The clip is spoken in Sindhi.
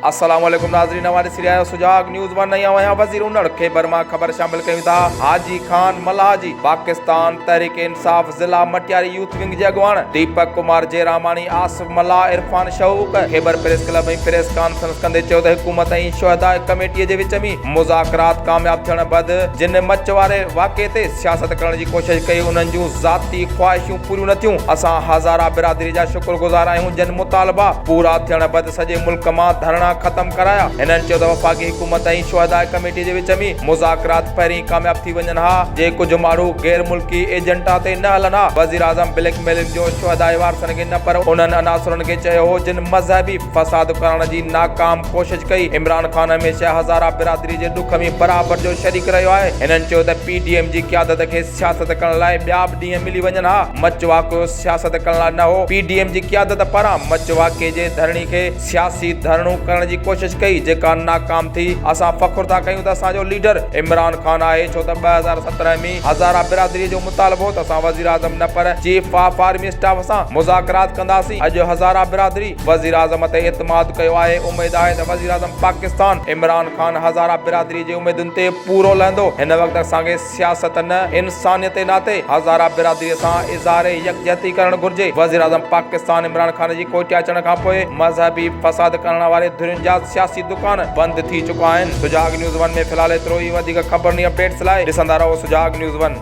السلام عليڪم ناظرين اوهان ڏسي رهيا آهيو سجاڳ نيوز ون ۽ اوهان وزير اونڙ کي برما خبر شامل ڪيون ٿا حاجي خان ملاح جي پاڪستان تحريڪ انصاف ضلع مٽياري يوٿ ونگ جي اڳواڻ ديپڪ ڪمار جيراماڻي آصف ملاح Irfan Shauq Khyber press club ۾ press conference ڪندي چيو ته حڪومت ۽ شهداء ڪميٽي جي وچ ۾ مذاڪرات ڪامياب ٿيڻ بعد جن مچ واري واقعي تي سياست ڪرڻ جي ڪوشش ڪئي انهن جون ذاتي خواهشون پوريون نه ٿيون اسان هزارا برادري جا شڪر گذار آهيون جن مطالبا پورا ٿيڻ بعد سڄي ملڪ مان ڌرڻا ختم ڪرايا هنن چيو ته وفاقي حڪومت ۽ شهداء ڪميٽي جي وچ ۾ مذاڪرات پهرين ئي ڪامياب ٿي وڃن ها جي ڪجهه ماڻهو غير ملڪي ايجنٽا تي نه هلن ها وزيراعظم بليڪ ميلنگ جو شهدائي وارثن کي نه پر انهن عناصرن کي چيو هو جن مذهبي فساد ڪرائڻ جي ناڪام ڪوشش ڪئي عمران خان هميشه هزاره برادري جي ڏک ۾ برابر جو شريڪ رهيو آهي هنن چيو ته پي ڊي ايم جي قيادت کي سياست ڪرڻ لاء ٻيا به ڏينهن ملي وڃن ها مچ واقعو سياست ڪرڻ لاء نه هو پي ڊي ايم جي قيادت پاران مچ واقعي جي ڌرڻي کي سياسي ڌرڻو ڪرڻ جي ڪوشش ڪئي جيڪا ناڪام ٿي، اسان فخر ٿا ڪيون ته اسان جو ليڊر عمران خان آهي ڇو ته ٻه هزار سترهن ۾ هزاره برادري جو مطالبو هو ته اسان وزيراعظم نه پر چيف آف آرمي اسٽاف سان مذاڪرات ڪنداسين اڄ هزاره برادري وزيراعظم تي اعتماد ڪيو آهي اميد آهي ته وزيراعظم پاڪستان عمران خان هزاره برادري جي اميدن تي پورو لهندو هن وقت اسان کي سياست نه انسانيت ناتي هزاره برادري سان اظهار يڪجهتي ڪرڻ گهرجي، وزيراعظم پاڪستان عمران خان جي ڪوئٽي اچڻ کانپوء مذهبي فساد ڪرڻ واري ڌرين جا سياسي دڪان بند ٿي چڪا آهن. سجاڳ نيوز ون ۾ في الحال ايترو ئي وڌيڪ خبرن ۽ اپڊيٽس لاء ڏسندا رهو سجاڳ نيوز ون.